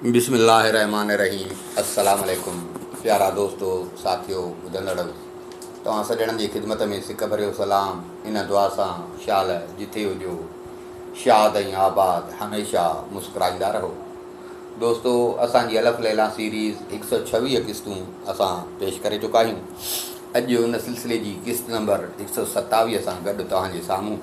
بسم الله الرحمٰن الرحيم السلام عليڪم پيارا دوستو ساٿيو ٻڌندڙو توهان سڄڻن جي خدمت ۾ سڪ ڀريو سلام ان دعا سان شال جٿي هجو شاد ۽ آباد هميشه مسڪرائيندا رهو دوستو اسان جي الف ليلا سيريز هڪ سؤ ڇويهه قسطون اسان پيش ڪري چڪا آهيون اڄ ان سلسلي جي قسط نمبر هڪ سؤ ستاويهه سان گڏ توهان جي سامهون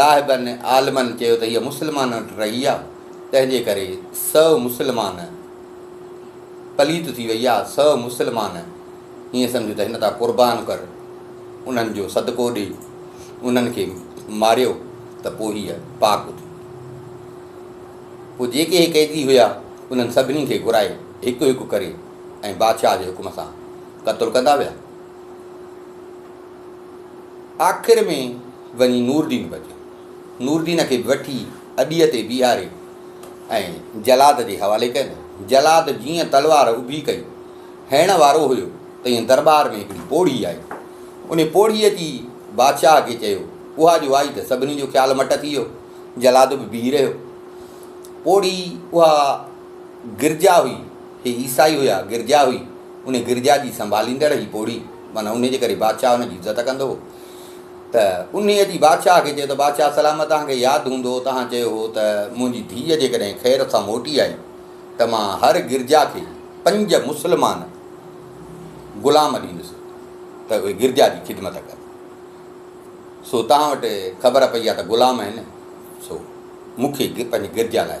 راهبن عالمن چيو ته هيء مسلمانن وٽ رهي آ تنهن جي ڪري سو مسلمان پليت ٿي وئي آ سو مسلمان هيئن سمجهه ته هن تان قربان ڪر انهن جو صدقو ڏي انهن کي ماريو ته پوء هيء پاڪ ٿي پوء جيڪي هي قيدي هيا انهن سڀني کي گهرائي هڪ هڪ ڪري ۽ بادشاهه جي حڪم سان قتل ڪندا ويا آخر ۾ وڃي نوردين پهچيو. نوردين کي وٺي اڏيء تي بيهاري ۽ جلاد جي حوالي ڪيو ويو. جلاد جيئن تلوار اڀي ڪئي هڻڻ وارو هيو تيئن درٻار ۾ هڪڙي پوڙهي آئي. ان پوڙهيء اچي بادشاهه کي چيو. اها جو آئي ته سڀني جو خيال مٽ ٿي ويو. جلاد به بيهي رهيو. پوڙهي اها گرجا هئي. هي عيسائي هيا، گرجا هئي. ان گرجا جي سنڀاليندڙ ئي پوڙهي معنيٰ ان جي ڪري بادشاهه ان جي عزت ڪندو هو ته ان جي بادشاهه کي چيو ته بادشاهه سلامت توهان کي ياد هوندو توهان چيو هو ته منهنجي ڌيء جيڪڏهن خير سان موٽي آئي ته مان هر گرجا کي پنج مسلمان غلام ڏيندس ته اهي گرجا جي خدمت ڪن سو توهان وٽ خبر پئي آهي ته غلام آهن سو مون کي پنهنجي گرجا لاء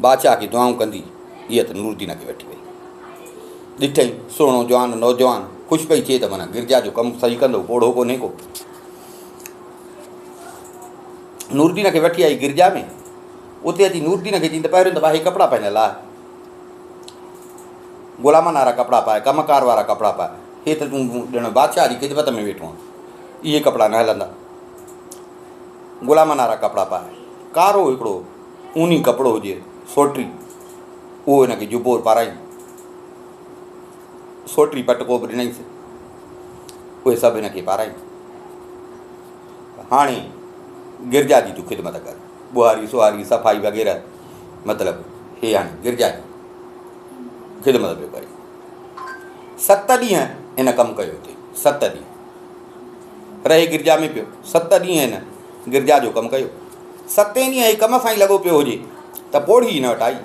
بادشاهه کي دعائون ڪندي هيء ته نورالدين کي وٺي وئي. ڏٺئي، سهڻو جوان نوجوان، خوش پئي ٿئي ته معنيٰ گرجا جو ڪم صحيح ڪندو، پوڙهو ڪونهي ڪو. نورالدين کي وٺي آئي گرجا ۾، اتي اچي نورالدين کي چين ته پهريون ته ڀاء هي ڪپڙا پنهنجا لاء، غلامن وارا ڪپڙا پائي، ڪم ڪار وارا ڪپڙا پائي، هي ته تون ڄڻ بادشاهه جي خدمت ۾ ويٺو آهين، اهي ڪپڙا نه هلندا. غلامن وارا ڪپڙا پائي، ڪارو هڪڙو اوني ڪپڙو هجي سوٽري، اهو هن کي جبو پارائين، سوٽري پٽڪو به ڏنائينس، اهي سڀ هن کي پارائين. هاڻي گرجا جي تون خدمت ڪر، ٻهاري سهاري صفائي وغيره مطلب هي هاڻي گرجا جي خدمت پيو ڪري. ست ڏينهن هن ڪم ڪيو ٿي، ست ڏينهن. رهي گرجا ۾ پيو. ست ڏينهن هن گرجا جو ڪم ڪيو. ستين ڏينهن هي ڪم سان ئي لڳو پيو هجي ته پوڙهي هن وٽ آئي.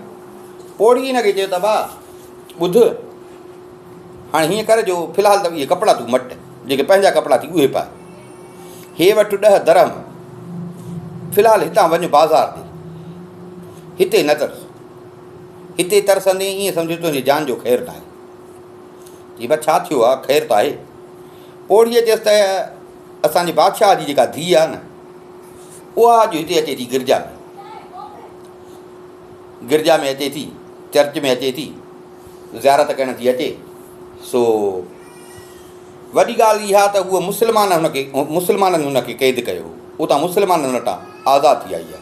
پوڙهي هن کي چيو ته ڀاء ٻڌ هاڻي هيئن ڪر جو في الحال ته اهي ڪپڙا تون مٽ جيڪي پنهنجا ڪپڙا ٿي اهي پاء. هي وٺ ڏهه درهم في الحال هتان وڃ بازار تي هتي نه ترس. هتي ترسندين ائين سمجهه تنهنجي جان جو خير ناهي. چي ڀاء ڇا ٿيو آهي خير ته آهي. پوڙهيء چيس ته اسان جي بادشاهه جي جيڪا ڌيء آهي نه، اها اڄ هتي اچي ٿي گرجا ۾، گرجا ۾ اچي ٿي، چرچ ۾ اچي ٿي، زيارت ڪرڻ ٿي اچي، سو وڏي ڳالهه اها ته هو مسلمان هن کي مسلمانن هن کي قيد ڪيو هو، اتان مسلمانن وٽان آزاد ٿي آئي آهي.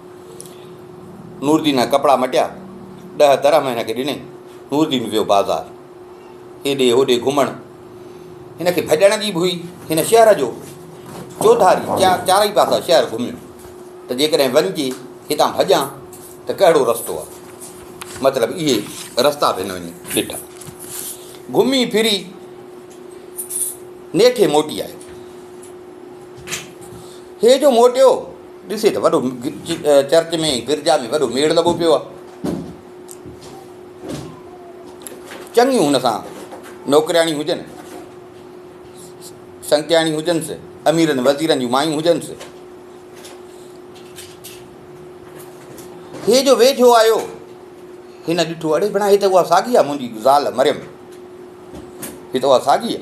نوردين جا ڪپڙا مٽيا، ڏهه درهم هن کي ڏنائين. نوردين ويو بازار. هيڏي هوڏي گهمڻ هن کي ڀڄڻ جي به هئي. هن شهر جو چوڌاري چارئي پاسا شهر گهميو ته جيڪڏهن وڃجي هتان ڀڄان ته ڪهڙو رستو آهي. مطلب اهي رستا به هن وڃي ڏٺا. گهمي ڦري نيٺي موٽي آيو. هي جو موٽيو ڏسي ته وڏو چرچ ۾ گرجا ۾ وڏو ميڙ لڳو پيو آهي. چڱيون هن سان نوڪرياڻيون هجن، سنگتياڻيون هجنس، اميرن وزيرن جون مايون هجنس. هي جو ويجهو آيو هن ڏٺو اڙي بڻا هي ته اها ساڳي آهي منهنجي زال مريم هي ته اها ساڳي آهي.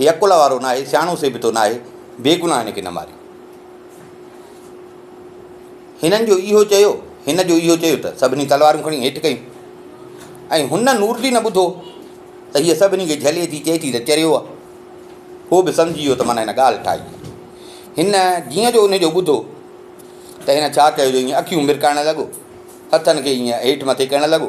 هي عقل وارو ناهي، سياڻو سيبتو ناهي، بيگناهه هن کي نه ماريو. هنن جو اهو چيو، هن جو اهو چيو ته سڀني تلوارون کڻي هيٺ ڪيون ۽ هن نورجي نه ٻڌو ته هيء سڀني کي جهلي ٿي، چئي ٿي ته چريو آهي. هو به سمجهي ويو ته معنيٰ هن ڳالهه ٺاهي آهي. هن جيئن جو ان جو ٻڌو ته هن ڇا ڪيو جو ايئن اکيون مرڪائڻ لڳو، هٿن کي ايئن هيٺ مٿي ڪرڻ لڳو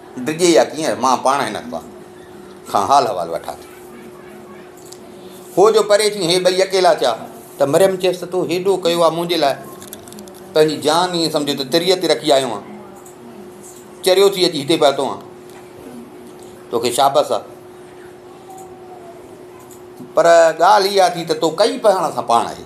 ڊڄي يا ڪيئن مان پاڻ هن اخبار کان حال حوال وٺان ٿي. هوء جو پري ٿي هي ٻئي اڪيلا ٿيا ته مريم چيس ته تو هيڏو ڪيو آهي منهنجي لاء پنهنجي جان ائين سمجهه ته تريء تي رکي آيو آهيان چريو ٿي اچي هتي پهتو آهيان توکي شابس آهي پر ڳالهه اها ٿي ته تو ڪئي پهڻ سان پاڻ آهي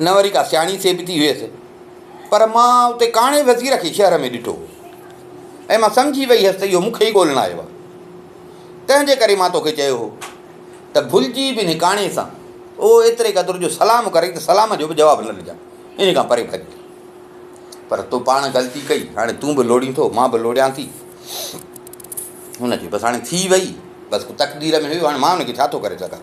نه وري ڪا سياڻي سيبتي هيس، پر مان اتي ڪاڻي وزير کي شهر ۾ ڏٺو ۽ مان سمجهي وئي هيس ته اهو مون کي ئي ڳولڻ آيو آهي. تنهن جي ڪري مان تو کي چيو هو ته ڀلجي به انهي ڪاڻي سان او ايتري قدر جو سلام ڪرين ته سلام جو به جواب نه ڏجان، انهي کان پري ڀڄ. پر تو پاڻ غلطي ڪئي، هاڻي تون به لوڙين ٿو، مان به لوڙيان ٿي. هن چيو، بس هاڻي ٿي وئي، بس تقدير ۾ هيو، هاڻي مان ان کي ڇا ٿو ڪري سگهان.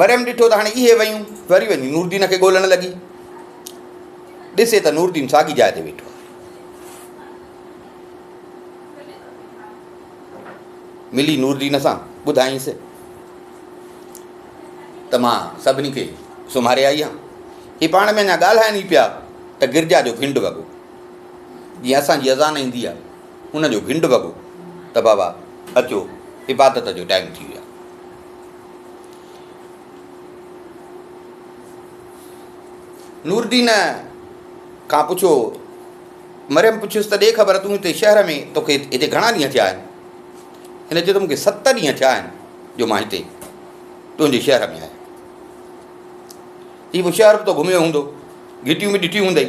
مريم ڏٺو ته هاڻي اهي ويون، وري وڃي نوردين کي ڳولڻ لڳي. ڏسي ته نوردين ساڳي جاء تي ويٺو آهي. ملي نوردين سان ٻڌائينس ته مان سڀني کي سمهاري آئي آهيان هي پاڻ ۾ اڃا ڳالهائن ئي پيا ته گرجا جو گهنڊ وڳو جيئن اسانجي اذان ايندي آهي ان جو گنڊ وڳو ته بابا اچو عبادت جو ٽائيم ٿي ويو آهي. نورالدين کان پڇيو مريم پڇيس ته ڏي خبر تون هتي شهر ۾ توکي هتي گهڻا ڏينهن ٿيا آهن هن چيو ته مونکي ست ڏينهن ٿيا آهن جو مان هتي تنهنجي شهر ۾ آهيان هي شهر به تو گهميو هوندو گهٽيون به ڏٺيون هوندئي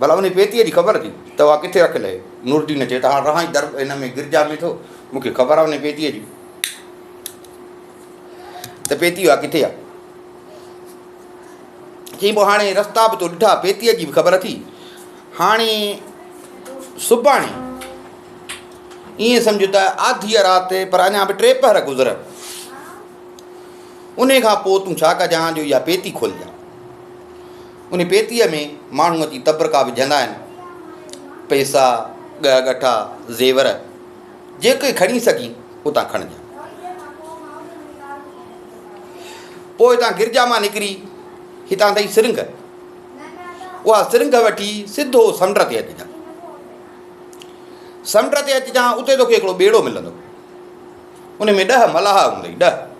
ڀلا انهيء پيتيء جي خبر اٿئي ته اها ڪٿي رکيل آهي؟ نورالدين چيو ته هاڻ رهان ئي در هن ۾ گرجا ۾ ٿو، مون کي خبر آهي انهيء پيتيء جي ته پيتي اها ڪٿي آهي. چيائين پوء هاڻي رستا به تو ڏٺا، پيتيء جي به خبر اٿئي، هاڻي سڀاڻي ائين سمجهه ته آڌيء رات پر اڃا به ٽي پهر گذرن انهيء کان پوء تون ڇا ڪجان جو اها پيتي کولجان. ان پيتيء ۾ ماڻهو اچي تبرڪا وجهندا آهن. پئسا، ڳهه ڳٺا، زيور، جيڪي کڻي سگهين، اتان کڻجان. پوء اتان گرجا مان نڪري هتان تائين سرنگهه. اها سرنگهه وٺي سڌو سمنڊ تي اچجان. سمنڊ تي اچجان، اتي توکي هڪڙو ٻيڙو ملندو. ان ۾ ڏهه ملاح هوندئي، ڏهه.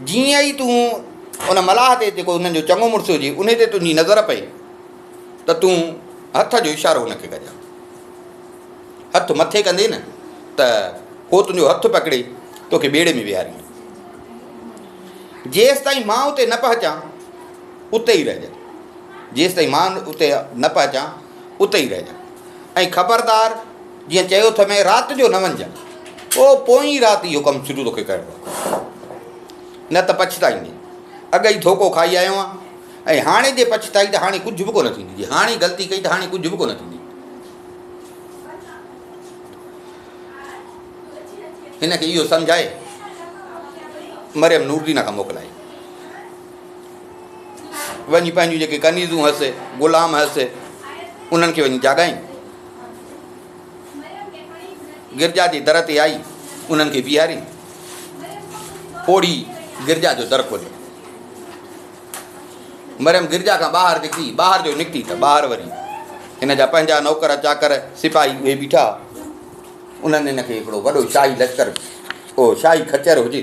جيئن ئي تون ان ملاح تي جيڪو انهن جو چڱو مڙس هجي ان تي تنهنجي نظر پئي ته تون هٿ جو اشارو هن کي ڪجان هٿ مٿي ڪندي نه ته هو تنهنجو هٿ پڪڙي توکي ٻيڙي ۾ ويهاري جيس تائين مان اتي نه پهچان اتي ئي رهجان جيس تائين مان اتي نه پهچان اتي ئي رهجان ۽ خبردار جيئن چيو اٿئي مين رات جو نه وڃجان او پوئين رات اهو ڪم شروع توکي ڪرڻو آهي نه ته پڇتائيندين اڳ ئي ڌوڪو کائي آيو آهيان ۽ هاڻي جي پڇتائي ته هاڻي ڪجهه به ڪونه ٿيندي جي هاڻي غلطي ڪئي ته هاڻي ڪجهه به ڪونه ٿيندي هن کي اهو سمجهائي مريم نوردينا کان موڪلائي وڃي پنهنجون جيڪي ڪنيزون هئس، غلام هئس، انهن کي وڃي جاڳائين. گرجا جي در تي آئي انهن کي بيهارين. پوڙهي گرجا جو در کوليو. مريم گرجا کان ٻاهر نڪتي ٻاهر جو نڪتي ته ٻاهر وري هن جا پنهنجا نوڪر چاڪر سپاهي اهي بيٺا انهن هن کي هڪڙو وڏو شاهي لشڪر او شاهي خچر هجي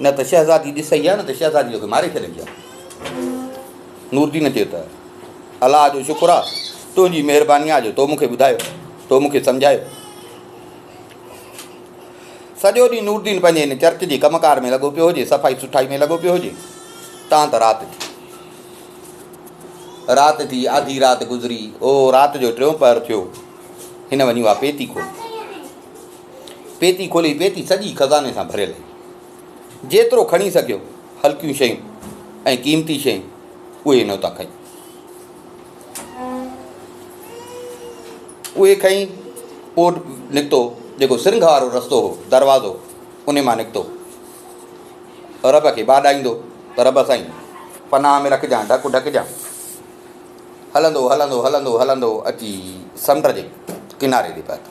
نه ته شهزادي ڏسي ها نه ته شهزادي توکي ماري ڇڏيندي ها نوردين چيو ته الله جو شڪر آ تنهنجي مهرباني آ جو تو مونکي ٻڌايو تو مونکي سمجھايو سڄو ڏينهن نوردين پنهنجي هن چرچ جي ڪم ڪار ۾ لڳو پيو هجي صفائي سٺائي ۾ لڳو پيو هجي تان ته رات ٿي رات ٿي آڌي رات گذري او رات جو ٽيون پهر ٿيو هن وڃي اها پيتي کول پيتي کولي، پيتي سڄي خزاني سان ڀريل هئي. جيترو کڻي سگهيو، هلڪيون شيون ۽ قيمتي شيون، اهي نوتا کنئي. اهي کنئي پوء نڪتو، جيڪو سرنگهه وارو رستو هو، دروازو، ان مان نڪتو، رب کي ٻاڏائيندو ته رب سائين! پناهه ۾ رکجان، ڍڪ ڍڪجان. هلندو، هلندو، هلندو، هلندو اچي سمنڊ جي ڪناري تي پهتو.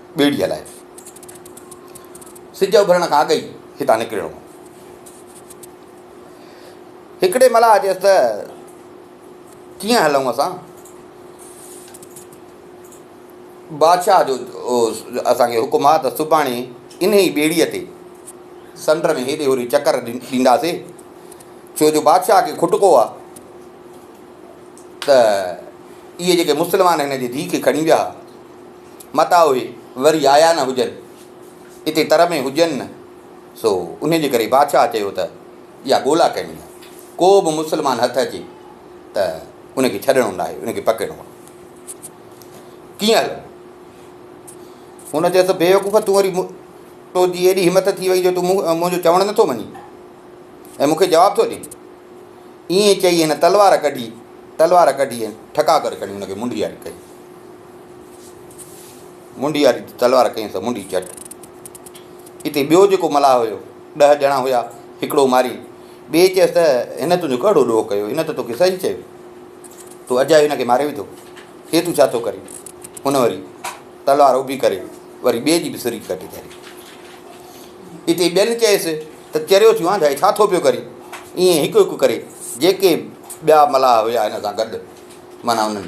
ٻيڙي هلائي. سج اڀرڻ کان اڳ ئي هتان نڪرڻو هو. هڪڙي ملاح چيس ته ڪيئن هلون اسان؟ بادشاهه جو اسان کي حڪم آ ته سڀاڻي انهي ئي ٻيڙيء تي سمنڊ ۾ هيڏي هوري چڪر ڏينداسين، ڇو جو بادشاهه کي کٽڪو آ ته اهي جيڪي مسلمان هن جي ڌيء کي کڻي ويا ها، متان اهي وري آيا نه هجن، اتي تر ۾ هجن نه، سو انهيء جي ڪري بادشاهه چيو ته اها ڳولا ڪرڻي آهي، ڪو به مسلمان هٿ اچي ته ان کي ڇڏڻو ناهي، ان کي پڪڙڻو آهي. ڪيئن هلندو؟ هن چيس ته بيوقوف تون وري تو جي ايڏي همٿ ٿي وئي جو تون منهنجو چوڻ نٿو مڃين ۽ مون کي جواب ٿو ڏين. ائين چئي هن تلوار ڪڍي تلوار ڪڍي ٺڪا ڪري کڻي هن کي منڊياري ڪئي. منڍي واري تلوار ڪيائين ته منڍي جهٽ. اتي ٻيو جيڪو ملاح هيو، ڏهه ڄڻا هيا، هڪڙو ماري، ٻئي چيس ته هن تنهنجو ڪهڙو ڏوهه ڪيو، هن ته توکي صحيح چيو، تو اجايو هن کي ماري وڌو، هي تون ڇا ٿو ڪرين؟ هن وري تلوار اڀي ڪري وري ٻئي جي به سري ڪٽي ڌري. اتي ٻين چيس ته چريو ٿيو آنڌائي ڇا ٿو پيو ڪرين؟ ائين هڪ هڪ ڪري جيڪي ٻيا ملاح هيا هن سان گڏ معنيٰ انهن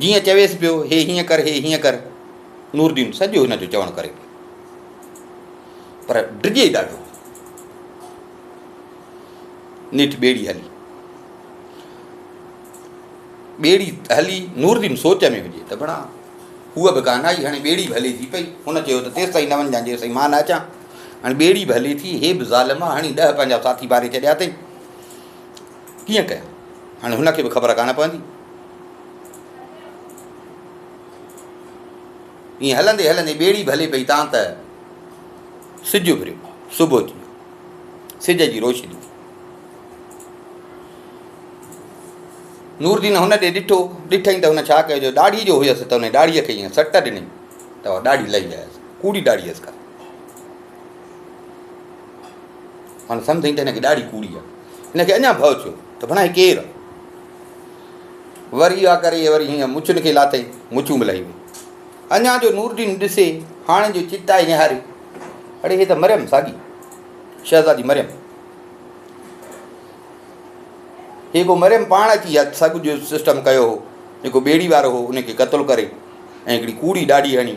جيئن چويس پيو هي هيئن ڪر هي هيئن ڪر نوردين سڄو هن جو چوڻ ڪري پيو پر ڊڄي ڏاڍو نيٺ ٻيڙي هلي ٻيڙي هلي نوردين سوچ ۾ هجي ته بڻا هو به ڪانه آئي هاڻي ٻيڙي به هلي ٿي پئي هن چيو ته تيس تائين نون جان جيسي مان نه اچان هاڻي ٻيڙي به هلي ٿي هي به ظالم آ هاڻي ڏهه پنجاهه ساٿي باري ڇڏيا اٿئي ڪيئن ڪيان؟ هاڻي هن کي به خبر ڪانه پوندي. ائين هلندي هلندي ٻيڙي به هلي پئي تان ته سج اڀريو، صبح ٿي ويو. سج جي روشني نوردين هن ڏي ڏٺو، ڏٺئين ته هن ڇا ڪيو جو ڏاڙهي جو هيس ته هن ڏاڙهيء کي ائين سٽ ڏني ته اها ڏاڙهي لهي ويس، ڪوڙي ڏاڙهي هيس ڪا. هن سمجهيائين ته هن کي ڏاڙهي ڪوڙي آهي. هن کي اڃا ڀؤ ٿيو ته ڀلا هي ڪير آهي؟ وري اها ڪري وري هن مڇن کي لاٿئي، مڇون به لهي ويون. اڃا جو نورالدين ڏسي هاڻي جو چتائي نهاري، اڙي هي ته مريم ساڳي شهزادي مريم. هي ڪو مريم پاڻ اچي اها سڳ جو سسٽم ڪيو هو، جيڪو ٻيڙي وارو هو ان کي قتل ڪري ۽ هڪڙي ڪوڙي ڏاڙهي هڻي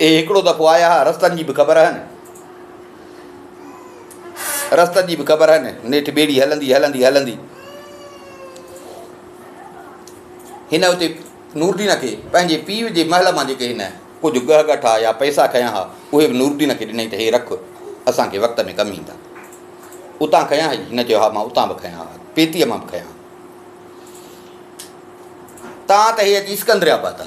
اهي هڪڙو دفعو آيا ها، رستن جي به خبر هن، رستن جي به خبر هن، نيٺ ٻيڙي هلندي هلندي هلندي هن اتي نورالدين کي پنهنجي پيء جي محل مان جيڪي هن ڪجهه ڳهه ڳٺا يا پئسا کنيا ها اهي به نورالدين کي ڏنائين ته هي رک اسان کي وقت ۾ ڪم ايندا اتان کنيا هئي هن چيو ها مان اتان به کنيا ها پيتيء مان به کنيا ها تان ته هي اچي اسڪندر آباد آ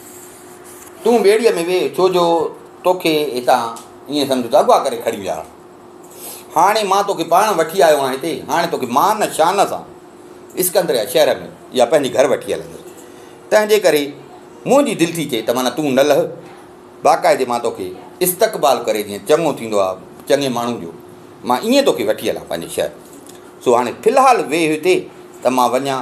تون ٻيڙيء ۾ ويهه، ڇو جو توکي هتان ائين سمجهه ته اغوا ڪري کڻي ويا آهن. هاڻي مان توکي پاڻ وٺي آيو آهيان هتي، هاڻي توکي مان شان سان اسڪندريه شهر ۾ يا پنهنجي گهر وٺي هلندس. تنهنجي ڪري منهنجي دل ٿي چئي ته معنيٰ تون نه لهه، باقاعدي مان توکي استقبال ڪري جيئن چڱو ٿيندو آهي چڱي ماڻهو جو، مان ائين توکي وٺي هلان پنهنجي شهر. سو هاڻي في الحال ويهه هتي ته مان وڃان.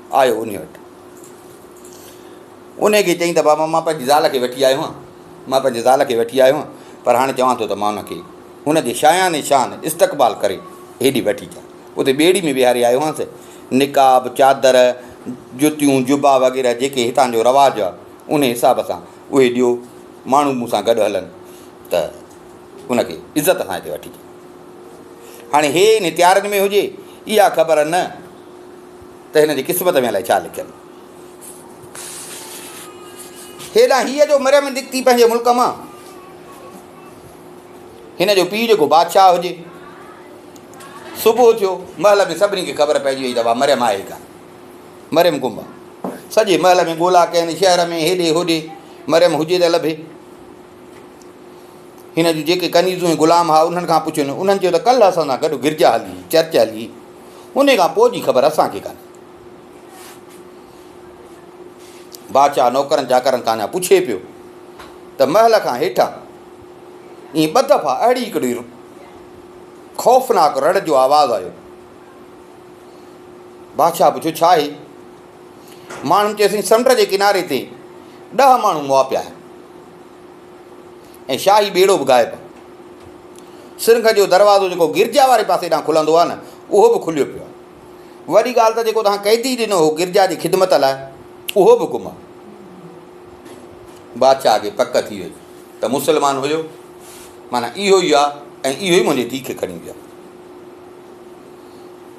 آيو انهيء وٽ. انهيء کي چيائين ته بابا مان پنهنجي زال کي وٺي آيو آهيان، مان پنهنجي زال کي وٺي آيو آهيان، پر هاڻي چوان ٿو ته مان ان کي ان جي شايان شان استقبال ڪري هيڏي وٺي اچان. اتي ٻيڙي ۾ ويهاري آيو آهيانس. نقاب، چادر، جتيون، جبا وغيره جيڪي هتان جو رواج آهي، انهيء حساب سان اهي ڏيو، ماڻهو مون سان گڏ هلن ته ان کي عزت سان هتي وٺي اچن. هاڻي هي انهيء تيارين ۾ هجي، اها خبر نه. ته هن جي قسمت ۾ الائي ڇا لکيل هو. هيڏانهن هيء جو مريم نڪتي پنهنجي ملڪ مان، هن جو پيء جيڪو بادشاهه هجي. صبح ٿيو، محل ۾ سڀني کي خبر پئجي وئي ته واهه مريم آهي ڪا مريم گم آهي. سڄي محل ۾ ڳولا ڪين، شهر ۾ هيڏي هوڏي مريم هجي ته لڀي. هن جون جيڪي ڪنيزون ۽ غلام ها انهن کان پڇيو نه انهن چيو ته ڪلهه اسان سان گڏ گرجا هلي چرچ هلي ان کان پوء جي خبر اسان کي ڪانهي بادشاهه نوڪرن چاڪرن کان اڃا پڇي پيو ته محل کان هيٺان ائين ٻه دفعا اهڙي هڪڙي خوفناڪ رڙ جو آواز آيو بادشاهه پڇيو ڇا آهي ماڻهن چيسين سمنڊ جي ڪناري تي ڏهه ماڻهو مئا پيا آهن ۽ شاهي ٻيڙو به غائب سرنگ جو دروازو جيڪو گرجا واري پاسي ڏانهن کلندو آهي نه اهو به کليو پيو آهي وڏي ڳالهه ته جيڪو توهان قيدي ڏنو هو گرجا جي خدمت لاء اهو به گم آهي بادشاهه کي پڪ ٿي وئي ته مسلمان هيو مانا اهو ئي آهي ۽ اهو ئي منهنجي ڌيء کي کڻي ويو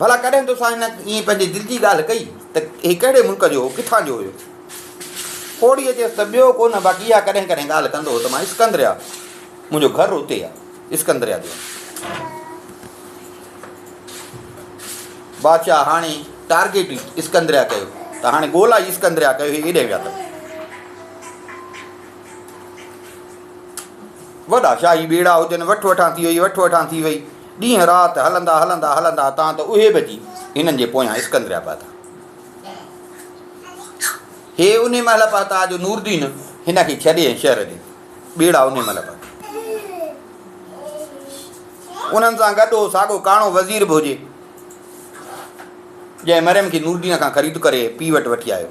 ڀلا ڪڏهن توسان هن ائين پنهنجي دل جي ڳالهه ڪئي ته هي ڪهڙي ملڪ جو هو، ڪٿان جو هيو؟ پوڙهيء چيس ته ٻيو ڪو نه باقي اها ڪڏهن ڪڏهن ڳالهه ڪندو هو ته مان اسڪندريا، منهنجو گهر اتي آهي، اسڪندريا جو آهيان. بادشاهه هاڻي ٽارگيٽ ئي اسڪندريا ڪيو ته هاڻي ڳولا ئي اسڪندريا ڪيو، هي ايڏهن ويا اٿم. وڏا شاهي ٻيڙا هجن، وٺ وٺان ٿي وئي، وٺ وٺان ٿي وئي. ڏينهن رات هلندا هلندا هلندا تان ته اهي به اچي هنن جي پويان اسڪندريا پهتا. هي انهي مهل پهتا جو نوردين هن کي ڇڏي ۽ شهر ڏي ٻيڙا انهي مهل پهتا. انهن سان گڏ هو ساڳو ڪاڻو وزير به هجي جنهن مريم کي نوردين کان خريد ڪري پي وٽ وٺي آيو.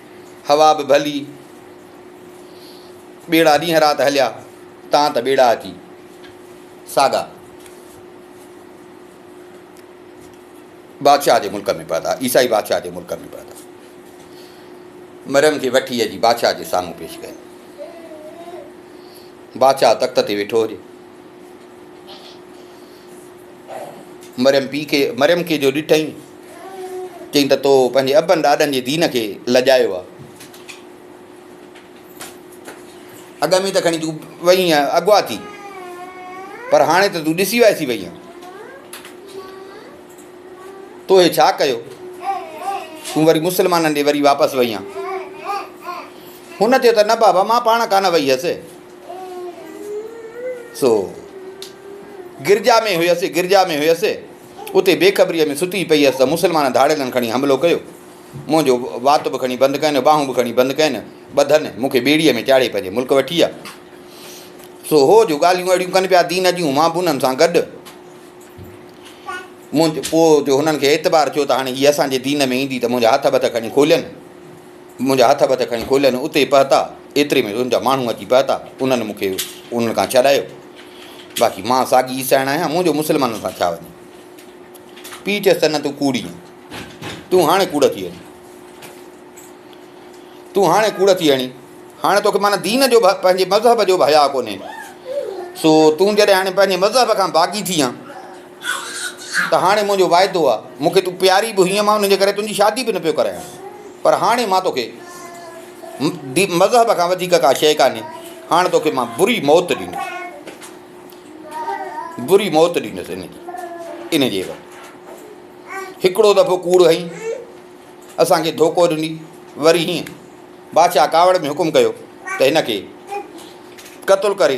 هوا به ڀلي، ٻيڙا ڏينهن رات هليا، تان ته ٻيڙا اچي ساڳا بادشاهه جي ملڪ ۾ پهتا، عيسائي بادشاهه جي ملڪ ۾ پهتا. مريم کي وٺي اچي بادشاهه جي سامهون پيش ڪيا. بادشاهه تخت تي ويٺو هجي. مريم پيء کي مريم کي جو ڏٺئين، چيائين ته تو پنهنجي ابن ڏاڏن جي دين کي لڄايو آ. اڳ ۾ ته کڻي تون وئي آهين اغوا ٿي، پر هاڻي ته تون ڏسي وائسي وئي آهين. تو هي ڇا ڪيو؟ تون وري مسلمانن ڏي وري واپس وئي آهين. هن چيو ته نه بابا مان پاڻ ڪانه وئي هيس. سو گرجا ۾ هيس، گرجا ۾ هيس، اتي بيخبريء ۾ ستي پئي هيس ته مسلمان ڌاڙيلن کڻي حملو ڪيو. منهنجو وات به کڻي بند ڪين، ٻانهون به کڻي بند ڪين، ٻڌن مون کي ٻيڙيء ۾ چاڙهي پنهنجي ملڪ وٺي ويا. سو هو جو ڳالهيون اهڙيون ڪن پيا دين جون، مان به انهن سان گڏ. منهنجو پوء جو هنن کي اعتبار ٿيو ته هاڻي هي اسان جي دين ۾ ايندي ته منهنجا هٿ بٿ کڻي کولين. منهنجا هٿ وٿ کڻي کولين اتي پهتا، ايتري ۾ ان جا ماڻهو اچي پهتا، انهن مون کي انهن کان ڇڏايو، باقي مان ساڳي عيسائڻ آهيان، مون جو مسلمانن سان ڇا وڃي؟ پيء چيس ته نه تون ڪوڙي آهين، تون هاڻي ڪوڙ ٿي هڻي، تون هاڻي ڪوڙ ٿي هڻي، هاڻي توکي معنيٰ دين جو پنهنجي مذهب جو به حياء ڪونهي، سو تون جڏهن هاڻي پنهنجي مذهب کان باغي ٿي آن ته هاڻي منهنجو واعدو آ، مون کي تون پياري به هئين مان ان جي ڪري تنهنجي شادي به نه پيو ڪرايان پر هاڻي مان توکي مذهب کان وڌيڪ ڪا شيء ڪانهي هاڻ توکي مان بري موت ڏيندس بري موت ڏيندس ان جي ان جي عيوض هڪڙو دفعو ڪوڙ هئي اسان کي ڌوڪو ڏني وري هيئن بادشاهه ڪاوڙ ۾ حڪم ڪيو ته هن کي قتل ڪري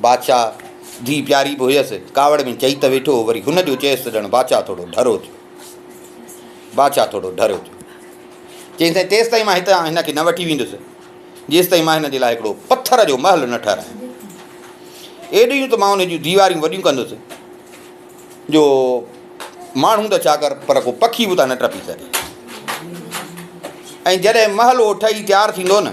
بادشاهه ڌيء پياري به هيس، ڪاوڙ ۾ چئي ته ويٺو هو، وري هن جو چيس ته ڄڻ بادشاهه ٿورو ڍرو ٿيو. بادشاهه ٿورو ڍرو ٿيو. چيس ته تيستائين مان هتان هن کي نه وٺي ويندس، جيستائين مان هن جي لاء هڪڙو پٿر جو محل نه ٺهرايان. ايڏيون ته مان ان جون ديواريون وڏيون ڪندس جو ماڻهو ته ڇا ڪر پر ڪو پکي به اتان نه ٽپي سگهي. ۽ جڏهن محل اهو ٺهي تيار ٿيندو نه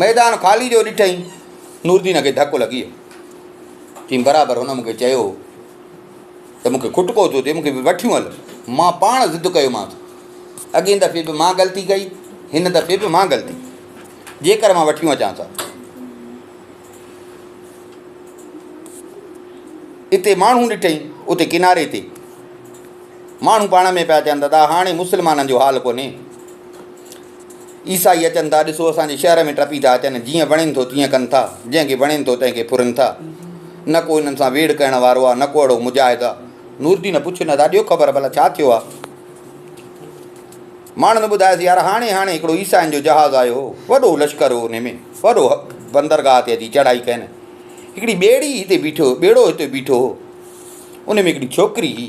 ميدان خالي جو ڏٺئي، نوردين کي ڌڪ لڳي ويو. چيم برابر هن مون کي چيو هو ته مون کي کٽڪو ٿو ٿئي، مون کي به وٺيون هل. مان پاڻ ضد ڪيومانس. اڳين دفعي به مان غلطي ڪئي، هن دفعي به مان غلطي. جيڪر مان وٺيون اچانس ها. اتي ماڻهو ڏٺئي اتي ڪناري تي ماڻهو پاڻ ۾ پيا چون ته هاڻي مسلمانن جو حال ڪونهي عيسائي اچن ٿا، ڏسو اسان جي شهر ۾ ٽپي ٿا اچن، جيئن وڻين ٿو تيئن ڪن ٿا، جنهن کي وڻين ٿو تنهن کي ڦرن ٿا. نه ڪو انهن سان ويڙهه ڪرڻ وارو آهي، نه ڪو اهڙو مجاهد آهي. نوردين پڇيو نه ٿا ڏيو خبر ڀلا ڇا ٿيو آهي؟ ماڻهن ٻڌايس يار هاڻي هاڻي هڪڙو عيسائين جو جهاز آيو هو، وڏو لشڪر هو ان ۾ وڏو بندرگاهه تي اچي چڙهائي ڪين. هڪڙي ٻيڙي هتي بيٺو ٻيڙو هتي بيٺو هو، ان ۾ هڪڙي ڇوڪري هئي.